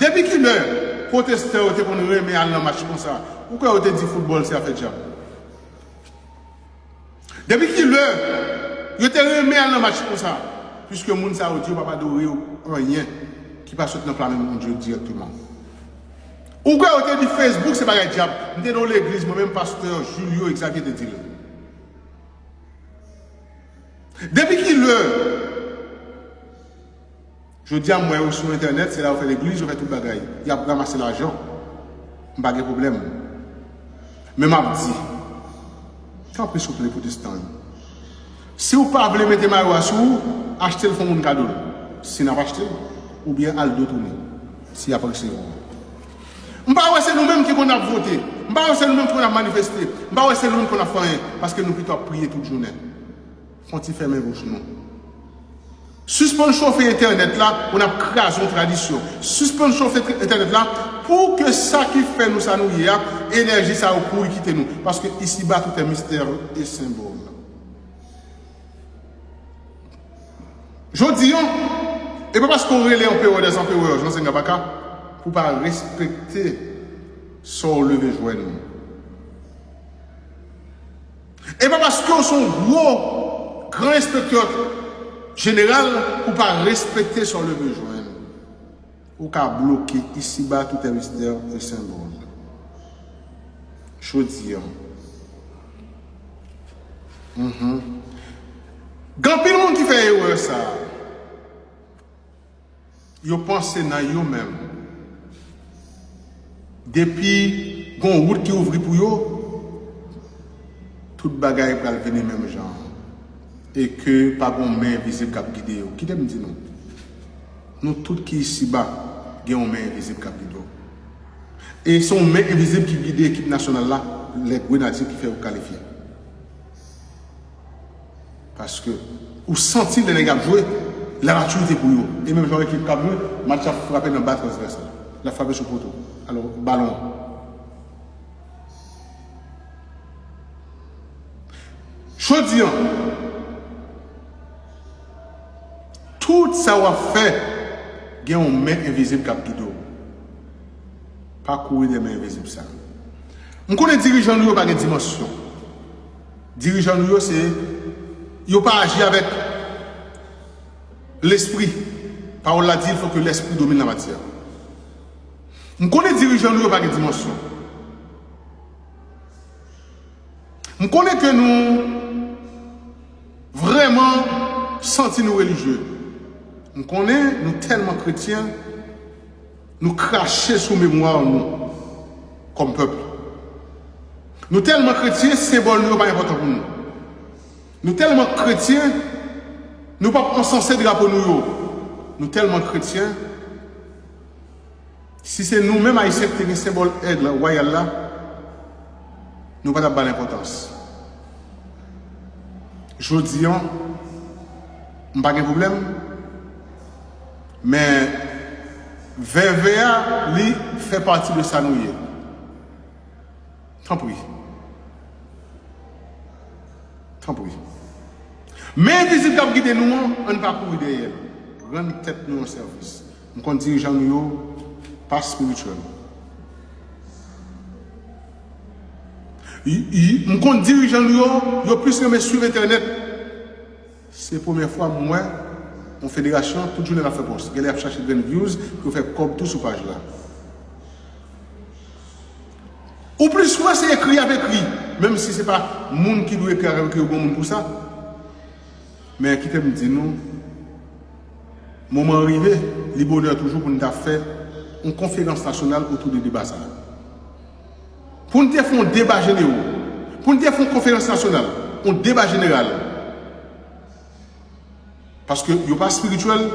Depi kilè pwotestè yo te konn renmen al nan match konsa? Ou kwè yo te di foutbòl se afè dyab? Depi kilè yo te renmen al nan match konsa? Piske moun sa yo di yo pap adore anyen ki pa sot nan plan men Bondye dirèkteman. Ou kwè yo te di Facebook se bagay dyab? M te nan yon legliz mwen menm pastè Julio Exavier te di l. Depi kilè? Jodia m wè yo sou entènèt se la yo fè legliz yo fè tout bagay yap ramase lajan m pa gen pwoblèm men map di tanpri souple pwotestan yo siw pa vle mete mayo a sou ou achte l fon moun kado l si nap achte l oubyen al do tounen si yap resevwa w m pa wè se nou menm ki konn ap vote m pa wè se nou menm ki konn ap manifeste m pa wè se nou menm ki konn ap fè anyen paske nou pito ap priye tout jounen. Fon ti fèmen bouch nou. Sispann chofe entènèt la pou nap kraze yon tradisyon. Sispann chofe entènèt la pou ke sa ki fè nou sa nou ye a, enèji sa yo kouri kite nou. Paske isiba tout è mistè e senbòl. Jodi an, e pa paske ou rele anperè dè anperè Jan Senga Baka pou pa respekte sa ou leve jwenn. E pa paske w se yon gwo gran enspektè jeneral pou w pa respekte sa w leve jwenn. Ou ka bloke isiba toutè mistè e senbòl. Jodi an. Gen anpil moun ki fè erè sa a. Yo panse nan yo menm. Depi gon wout ki ouvri pou yo, tout bagay pral vini menm jan an. E ke pa gon men envizib kap gide yo. Kite m di nou. Nou tout ki isiba, gen yon men envizib kap gide w. E se yon men envizib ki gide ekip nasyonal la, lè Grenadye ki fè yo kalifye. Paske ou santi lè nèg ap jwe, la maturite pou yo. E menm jan yon ekip kap jwe, match la frape nan ba transvèsal. Lap frape sou poto. Alò, balon an. Jodi an, tout sa wap fè, gen yon men envizib kap gide w. Pa kouri dèyè men envizib sa. M konnen dirijan nou yo pa gen dimansyon. Dirijan nou yo se yo pa aji avèk lespri. Pawòl la di il faut que l'esprit domine la matière. M konnen dirijan nou yo pa gen dimansyon. M konnen ke nou vrèman santi nou relijye. M konnen nou tèlman kretyen. Nou krache sou memwa nou kòm pèp. Nou tèlman kretyen, senbòl nou yo pa enpòtan pou nou. Nou tèlman kretyen, nou pap ansanse drapo nou yo. Nou tèlman kretyen, si se nou menm Ayisyen ki te gen senbòl èg wayal la, nou pa t ap ba l enpòtans. Jodi an, m pa gen pwoblèm. Men veve a li fè pati de sa nou ye tanpri tanpri men envizib kap gide nou an ann pa kouri dèyèl rann tèt nou yon sèvis m konn dirijan nou yo pa spirituel m konn dirijan nou yo yo plis renmen swiv entènèt Se premyè fwa m wè yon federasyon tout jounen lap fè pòs. Genlè yap chache grenn views pou yo fè kòb tou sou paj la. Ou plis wè se ekri yap ekri menm si se pa moun ki dwe ekri avèw ke yo gen yon moun pou sa. Men kitem di nou moman an rive li bonè toujou pou nou ta fè yon konferans nasyonal otou de deba sa. Pou n te fè yon deba jenero. Pou n te fè yon konferans nasyonal. Yon deba jeneral. Paske yo pa spirityèl.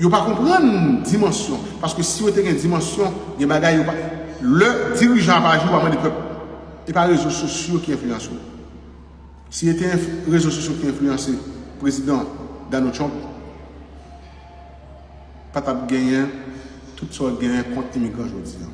Yo pa konprann dimansyon. Paske si yo te gen dimansyon. Gen bagay yo pa. Lè dirijan ap aji ou pa mande pèp. E pa rezo sosyo ki enflyanse ou. Si e te rezo sosyo ki enflyanse prezidan Donald Trump. Pa tap genyen tout sa w genyen kont imigran jodi an.